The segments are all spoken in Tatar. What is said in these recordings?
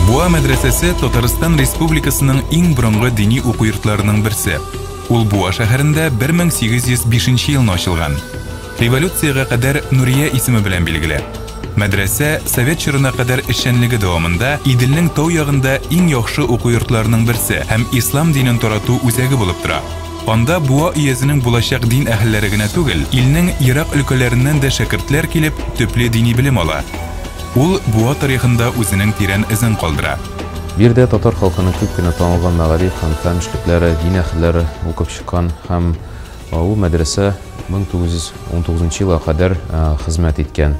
Буа мәдрәсәсе Татарстан Республикасының иң борынгы дини уку йортларының берсе. Ул Буа шәһәрендә 1805 елны ачылган. Революциягә кадәр Нурия исеме белән билгеле. Мәдрәсә совет чорына кадәр эшчәнлеге дәвамында Иделнең тау ягында иң яхшы уку йортларының берсе һәм ислам динен тарату үзәге булып тора. Анда Буа өязенең булачак дин әһелләре генә түгел, илнең ерак өлкәләреннән дә шәкертләр килеп, төпле дини белем ала. Ул Буа тарихында үзенең тирән эзен калдыра. Биредә татар халкының күп кенә танылган мәгариф һәм фән эшлекләре, дин әһелләре укып чыккан һәм Ул мәдрәсә 1919 нчы елга кадәр хезмәт иткән.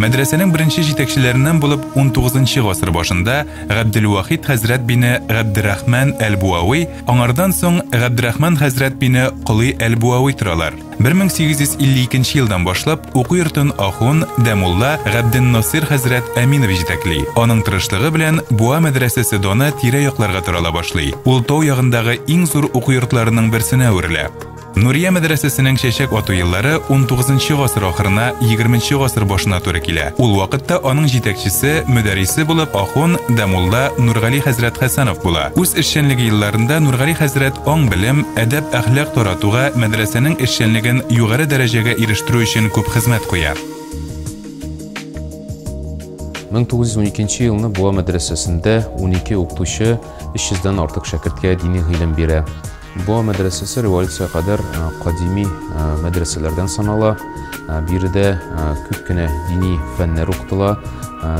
Мәдрәсәнең беренче җитәкчеләреннән булып XIX нчы гасыр башында Габделвахит хәзрәт бине Габдерахман әл-Буави, аңардан соң Габдерахман хәзрәт бине Колый әл-Буави торалар. 1852 нче елдан башлап Уку йортын ахун, дә мулла, Габденнасыйр хәзрәт Әминов җитәкли. Аның тырышлыгы белән Буа мәдрәсәсе даны тирә-якларга тарала башлый. Ул тау ягындагы иң зур уку йортларының берсенә әверелә. Нурия мәдрәсәсенең чәчәк ату еллары унтугызынчы гасыр ахырына, егерменче гасыр башына туры килә. Ул вакытта аның җитәкчесе, мөдәррисе булып ахун, дә мулла Нургали хәзрәт Хәсәнов була. Үз эшчәнлеге елларында Нургали хәзрәт аң-белем, әдәп-әхлак таратуга, мәдрәсәнең эшчәнлеген югары дәрәҗәгә ирештерү өчен күп хезмәт куя. 1912 елны Буа мәдрәсәсендә унике укытучы 300 дән артык шәкерткә дини гыйлем бирә. Буа мәдрәсәсе революциягә кадәр кадими мәдрәсәләрдән санала. Биредә күп кенә дини фәннәр укытыла.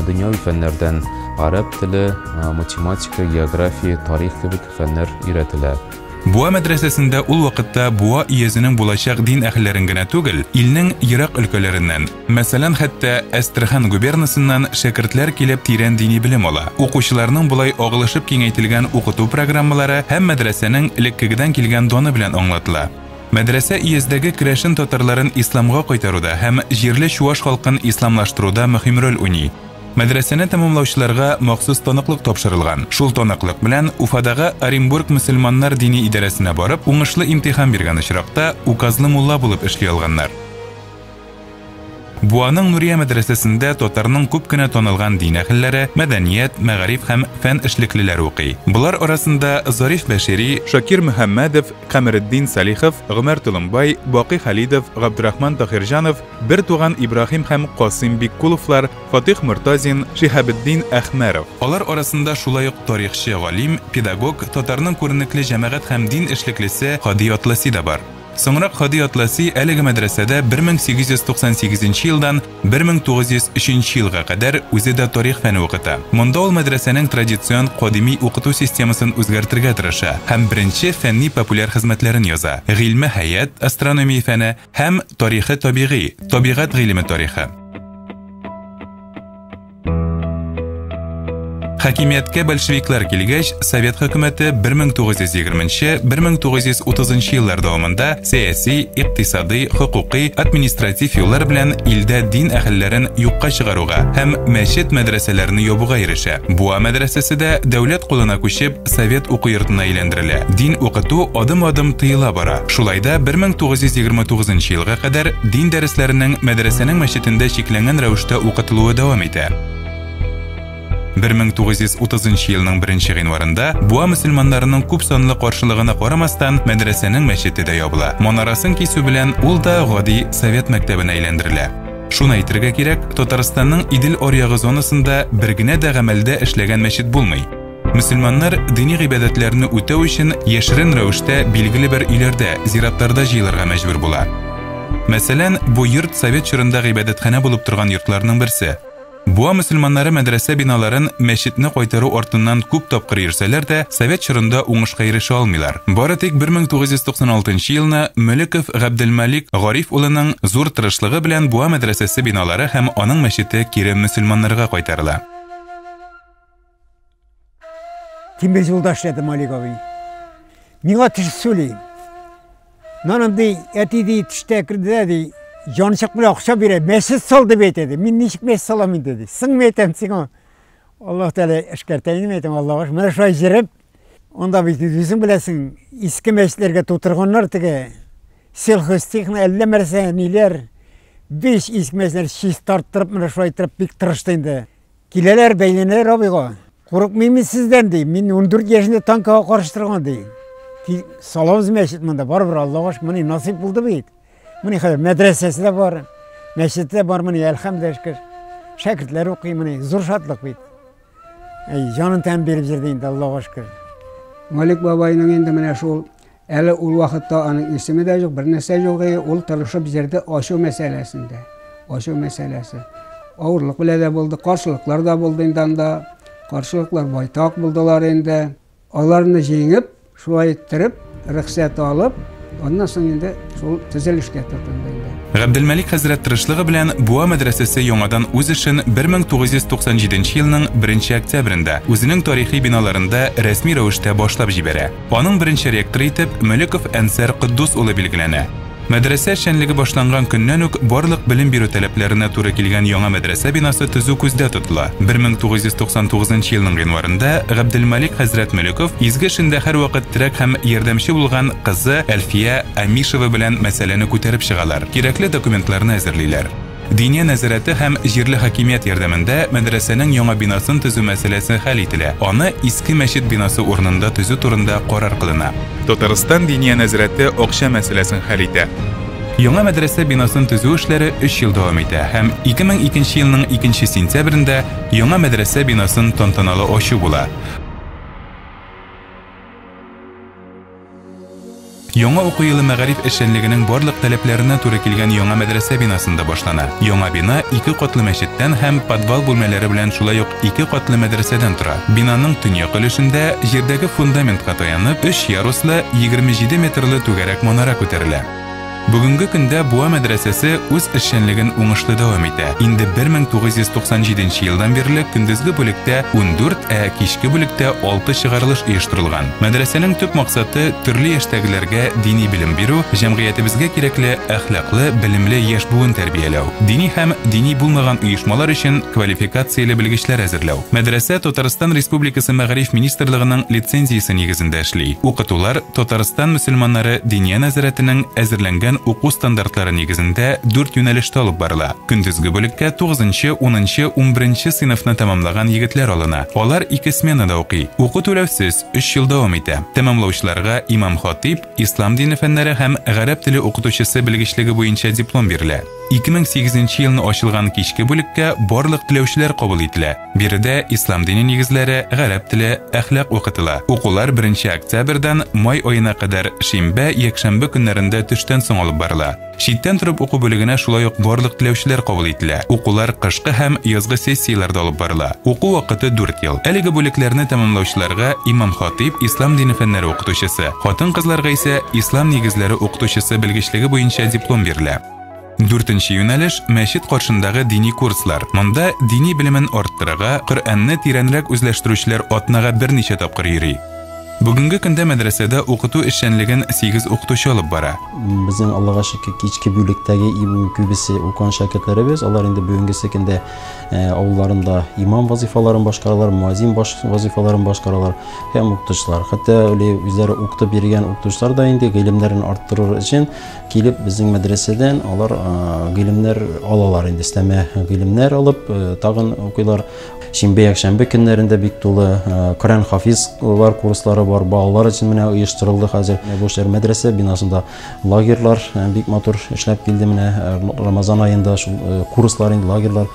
Дөньяви фәннәрдән гарәп теле, математика, география, тарих кебек фәннәр өйрәтелә. Буа мәдрәсәсендә ул вакытта Буа өязенең булачак дин әһелләрен генә түгел, илнең ерак өлкәләреннән, Мәсәлән, хәтта Әстерхан губернасыннан шәкертләр килеп тирән дини белем ала. Укучыларның болай агылышып киңәйтелгән укыту программалары һәм мәдрәсәнең элеккегедән килгән даны белән аңлатыла. Мәдрәсә өяздәге керәшен татарларын исламга кайтаруда һәм җирле чуаш халкын исламлаштыруда мөһим роль уйный. Мәдрәсәне тәмамлаучыларга махсус таныклык тапшырылган. Шул таныклык белән Уфадагы Оренбург мөселманнар дини идарәсенә барып, уңышлы имтихан биргән очракта, указлы мулла булып эшли алганнар. Буаның Нурия мәдрәсәсендә татарның күп кенә танылган дин әһелләре, мәдәният, мәгариф һәм фән эшлеклеләре укый. Болар арасында Зариф Бәшири, Шакир Мөхәммәдов, Камеретдин Салихов, Гомәр Толымбай, Бакый Халидов, Габдрахман Таһирҗанов, бертуган Ибраһим һәм Касыйм Биккуловлар, Фатыйх Мортазин, Шиһабетдин Әхмәров. Алар арасында шулай ук тарихчы, галим, педагог, татарның күренекле җәмәгать һәм дин эшлеклесе Һади Атласи да бар. Соңрак Һади Атласи әлеге мәдрәсәдә 1898 нче елдан 1903 нче елга кадәр үзе дә тарих фәне укыта. Монда ул мәдрәсәнең традицион кадими укыту системасын үзгәртергә тырыша һәм беренче фәнни-популяр хезмәтләрен яза, гыйльме хәят, астрономия фәне, һәм тарихы табигый, табигать гыйлеме тарихы. Хакимияткә большевиклар килгәч, Совет хөкүмәте 1920-1930 еллар дәвамында сәяси, икътисади, хокукый, административ юллар белән илдә дин әһелләрен юкка чыгаруга һәм мәчет мәдрәсәләрне ябуга ирешә. Буа мәдрәсәсе дә дәүләт кулына күчеп, Совет уку йортына әйләндерелә. Дин укыту адым-адым тыела бара. Шулай да 1929 елга кадәр дин дәресләренең мәдрәсәнең мәчетендә чикләнгән рәвештә укытылуы дәвам итә. 1930 елның 1 гыйнварында Буа мөселманнарының күп санлы каршылыгына карамастан, мәдрәсәнең мәчете дә ябыла. Манарасын кисү белән ул да гади совет мәктәбенә әйләндерелә. Шуны әйтергә кирәк, Татарстанның Идел аръягы зонасында бер генә дә гамәлдә эшләгән мәчет булмый. Мөселманнар дини гыйбадәтләрне үтәү өчен яшерен рәвештә билгеле бер өйләрдә, зиратларда җыелырга мәҗбүр була. Мәсәлән, бу йорт совет чорында гыйбадәтханә булып торган йортларның берсе. Буа мөселманнары мәдрәсә биналарын мәчетне кайтару артыннан күп тапкыр йөрсәләр дә, совет чорында уңышка ирешә алмыйлар. Бары тик 1996 елны Мөлеков Габделмәлик Гариф улының зур тырышлыгы белән Буа мәдрәсәсе биналары һәм аның мәчете кире мөселманнарга кайтарыла. Тимир юлда эшләдем Олег абый. Миңа теш сөйли. Наным ди, әти ди, тиштә керде ди, янчык белән акча бирә, мәсет сал дип әйтә ди. Мин ничек мәсет салам инде ди. Сыңмы әйтәм сиңа? Аллаһ Тәгалә эшкәртә инде әйтәм, Аллаһ. Менә шулай җырып, анда бит үзең беләсең, иске мәчетләргә тутырганнар теге. Сельхозтехно әллә нәрсә, ниләр. Биш иске мәчетләр чистарттырып, менә шулай итеп бик тырышты инде. Киләләр, бәйләнәләр абыйга. Курыкмыйм мин сездән, ди. Мин 14 яшендә танкыга каршы торган, ди. Саламыз мәчет монда, барыбер Аллага шөкер, менә насыйп булды бит. Менә хәзер мәдрәсәсе дә бар, мәчет тә бар, менә әлхәмдәшкә. Шәкертләр укый, менә зур шатлык бит. Әй, җанын тәм биреп җирдә инде Аллага шөкер. Малик бабайның инде менә шул Әле ул вакытта аның исеме дә юк, бернәрсә юк, и ул тырышып җырды ачу мәсьәләсендә. Ачу мәсьәләсе. Авырлык белән дә булды, каршылыклар да булды инде анда. Каршылыклар байтак булдылар инде. Аларны җиңеп, шулай иттереп, рөхсәт алып, аннан соң инде шул төзелешкә тотынды инде. Габделмәлик хәзрәт тырышлыгы белән Буа мәдрәсәсе яңадан үз эшен 1997 елның 1 октябрендә үзенең тарихи биналарында рәсми рәвештә башлап җибәрә. Аның беренче ректоры итеп Мөлеков Әнсәр Котдус улы билгеләнә. Мәдрәсә эшчәнлеге башланган көннән үк барлык белем бирү таләпләренә туры килгән яңа мәдрәсә бинасы төзү күздә тотыла. 1999 елның гыйнварында Габделмалик хәзрәт Мөлеков изге эшендә һәрвакыт терәк һәм ярдәмче булган кызы Әлфия Амишева белән мәсьәләне күтәреп чыгалар, кирәкле документларны әзерлиләр. Диния нәзарәте һәм җирле хакимият ярдәмендә мәдрәсәнең яңа бинасын төзү мәсьәләсе хәл ителә, аны иске мәчет бинасы урынында төзү турында карар кылына. Татарстан Диния нәзарәте акча мәсьәләсен хәл итә. Яңа мәдрәсә бинасын төзү эшләре өч ел дәвам итә һәм 2002 нче елның икенче сентябрендә яңа мәдрәсә бинасын тантаналы ачу була. Яңа уку елы мәгариф эшчәнлегенең барлык таләпләренә туры килгән яңа мәдрәсә бинасында башлана. Яңа бина ике катлы мәчеттән һәм подвал бүлмәләре белән шулай ук ике катлы мәдрәсәдән тора. Бинаның төньяк өлешендә, җирдәге фундаментка таянып, өч яруслы, 27 метрлы түгәрәк манара күтәрелә. Бүгенге көндә Буа мәдрәсәсе үз эшчәнлеген уңышлы дәвам итә. Инде 1997 елдан бирле көндезге бүлектә 14, ә кичке бүлектә 6 чыгарылыш оештырылган. Мәдрәсәнең төп максаты төрле яшьтәгеләргә дини белем бирү, җәмгыятебезгә кирәкле әхлаклы, белемле яшь буын тәрбияләү, дини һәм дини булмаган оешмалар өчен квалификацияле белгечләр әзерләү. Мәдрәсә Татарстан Республикасы Мәгариф министрлыгының лицензиясе нигезендә эшли. Укытулар, Татарстан мөселманнары Диния нәзарәтенең әзерләнгән уку стандартлары нигезендә дүрт юнәлештә алып барыла. Көндезге бүлеккә 9нчы, 10нчы, 11нче сыйныфны тәмамлаган егетләр алына. Алар ике сменада укый. Уку түләүсез, өч ел дәвам итә. Тәмамлаучыларга имам-хатыйб, ислам дине фәннәре һәм гарәп теле укытучысы белгечлеге буенча диплом бирелә. 2008 елны ачылган кичке бүлеккә барлык теләүчеләр кабул ителә. Биредә ислам дине нигезләре, гарәп теле, әхлак укытыла. Укулар 1 октябрьдан май аена кадәр шимбә, якшәмбе көннәрендә төштән соң алып барыла. Читтән торып уку бүлегенә шулай ук барлык теләүчеләр кабул ителә. Укулар кышкы һәм язгы сессияләрдә алып барыла. Уку вакыты 4 ел. Әлеге бүлекләрне тәмамлаучыларга имам-хатыйб, ислам дине фәннәре укытучысы, хатын-кызларга исә ислам нигезләре укытучысы белгечлеге буенча диплом бирелә. Дүртенче юнәлеш мәчет каршындагы дини курслар. Монда дини белемен арттырырга, Коръәнне тирәнрәк үзләштерүчеләр атнага берничә тапкыр йөри. Бүгенге көндә мәдрәсәдә укыту эшчәнлеген 8 укытучы алып бара. Безнең Аллага шөкер, кичке бүлектәге иң күбесе укыган шәкертләребез. Алар инде бүгенге көндә э, авылларында имам вазифаларын башкаралар, муазин баш вазифаларын башкаралар һәм укытучылар. Хәтта үле үзләре укытып йөргән укытучылар да инде гыйлемнәрен арттырыр өчен Килеп безнең мәдрәсәдән алар гыйлемнәр алалар инде, өстәмә гыйлемнәр алып, тагын укыйлар. Шимбә, якшәмбе көннәрендә бик тулы Коръән хафизлар курслары бар, балалар өчен менә оештырылды хәзер. Бу эшләр мәдрәсә бинасында лагерьлар бик матур эшләп килде. Менә Рамазан аенда шул курслар, лагерьлар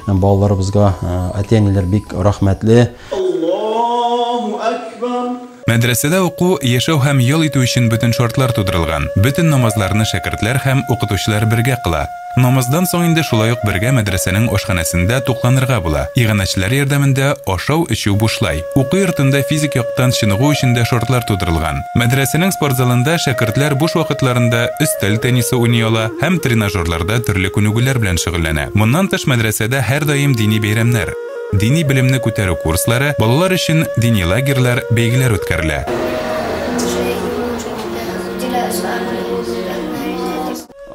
балаларыбызга әти-әниләр бик рәхмәтле. Аллаһу әкбәр! Мәдрәсәдә уку, яшәү һәм ял итү өчен бөтен шартлар тудырылган. Бөтен намазларны шәкертләр һәм укытучылар бергә кыла. Намаздан соң инде шулай ук бергә мәдрәсәнең ашханәсендә тукланырга була. Иганәчеләр ярдәмендә ашау, эчү бушлай. Уку йортында физик яктан чыныгу өчен дә шартлар тудырылган. Мәдрәсәнең спортзалында шәкертләр буш вакытларында өстәл теннисы уйный ала һәм тренажерларда төрле күнегүләр белән шөгыльләнә. Моннан тыш мәдрәсәдә һәрдаим дини бәйрәмнәр. Дини белемне күтәрү курслары, балалар өчен дини лагерьлар, бәйгеләр үткәрелә.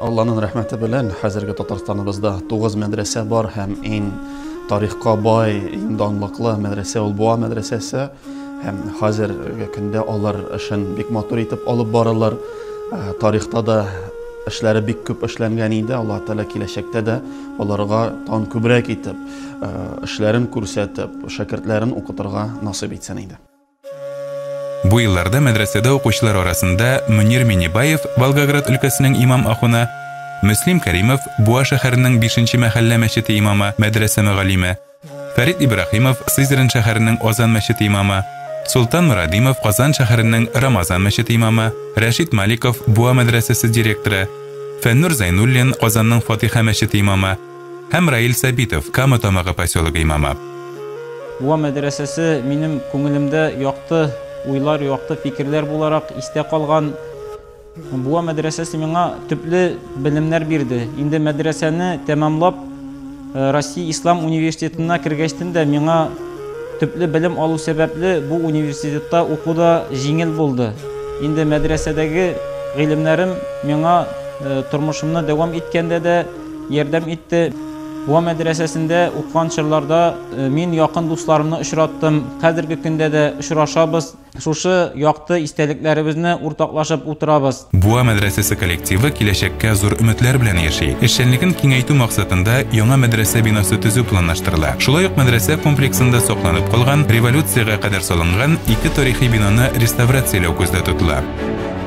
Алланың рәхмәте белән хәзерге Татарстаныбызда тугыз мәдрәсә бар һәм иң тарихка бай, иң данлыклы мәдрәсә ул Буа мәдрәсәсе һәм хәзерге көндә алар эшен бик матур итеп алып баралар. Ә, Тарихта да эшләре бик күп эшләнгән иде, Аллаһ Тәгалә киләчәктә дә аларга тагын күбрәк итеп эшләрен күрсәтеп, шәкертләрен укытырга насыйп итсен иде. Бу елларда мәдрәсәдә укучылар арасында Мөнир Миннебаев, Волгоград өлкәсенең имам ахуны, Мөслим Кәримов, Буа шәһәренең бишенче мәхәллә мәчете имамы, мәдрәсә мөгаллиме, Фәрит Ибраһимов, Сызрань шәһәренең Озан мәчете имамы, Солтан Морадимов, Казан шәһәренең Рамазан мәчете имамы, Рәшит Маликов, Буа мәдрәсәсе директоры, Фәннүр Зәйнуллин, Казанның Фатиха мәчете имамы, Һәм Раил Сабитов, Кама Тамагы поселогы имамы. Буа мәдрәсәсе минем күңелемдә якты уйлар, якты фикерләр буларак истә калган. Буа мәдрәсәсе миңа төпле белемнәр бирде. Инде мәдрәсәне тәмамлап, Россия Ислам университетына кергәчтен дә миңа төпле белем алу сәбәпле бу университетта уку да җиңел булды. Инде мәдрәсәдәге гыйлемнәрем миңа тормышымны дәвам иткәндә дә, ярдәм итте. Буа мәдрәсәсендә укыган чорларда мин якын дусларымны очраттым. Хәзерге көндә дә очрашабыз, шушы якты истәлекләребезне уртаклашып утырабыз. Буа мәдрәсәсе коллективы киләчәккә зур өметләр белән яши. Эшчәнлеген киңәйтү максатында яңа мәдрәсә бинасы төзү планлаштырыла. Шулай ук мәдрәсә комплексында сакланып калган, революциягә кадәр салынган ике тарихи бинаны реставрацияләү күздә тотыла.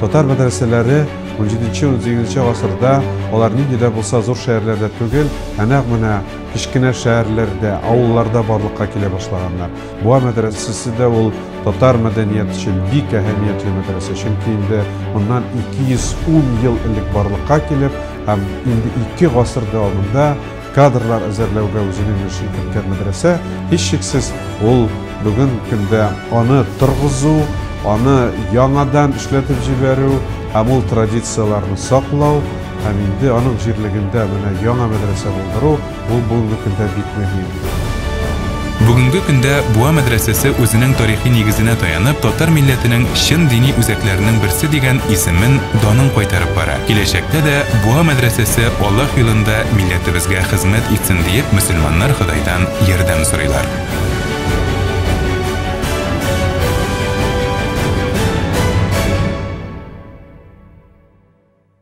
Татар мәдрәсәләре 17-18 гасырда алар нинди дә булса зур шәһәрләрдә түгел, ә нәкъ менә кечкенә шәһәрләрдә, авылларда барлыкка килә башлаганнар. Буа мәдрәсәсе дә ул татар мәдәният өчен бик әһәмиятле мәдрәсә, чөнки инде моннан 210 ел элек барлыкка килеп, һәм инде ике гасырда анда кадрлар әзерләүгә үзенең өлешен керткән мәдрәсә, һичшиксез, ул бүген көндә аны торгызу, аны яңадан эшләтеп җибәрү һәм ул традицияләрне саклау һәм инде аның җирлегендә менә яңа мәдрәсә булдыру, ул бүгенге көндә бик мөһим. Бүгенге көндә Буа мәдрәсәсе үзенең тарихи нигезенә таянып, татар милләтенең чын дини үзәкләренең берсе дигән исемен, данын кайтарып бара. Киләчәктә дә Буа мәдрәсәсе Аллаһ юлында милләтебезгә хезмәт итсен, диеп, мөселманнар Ходайдан ярдәм сорыйлар.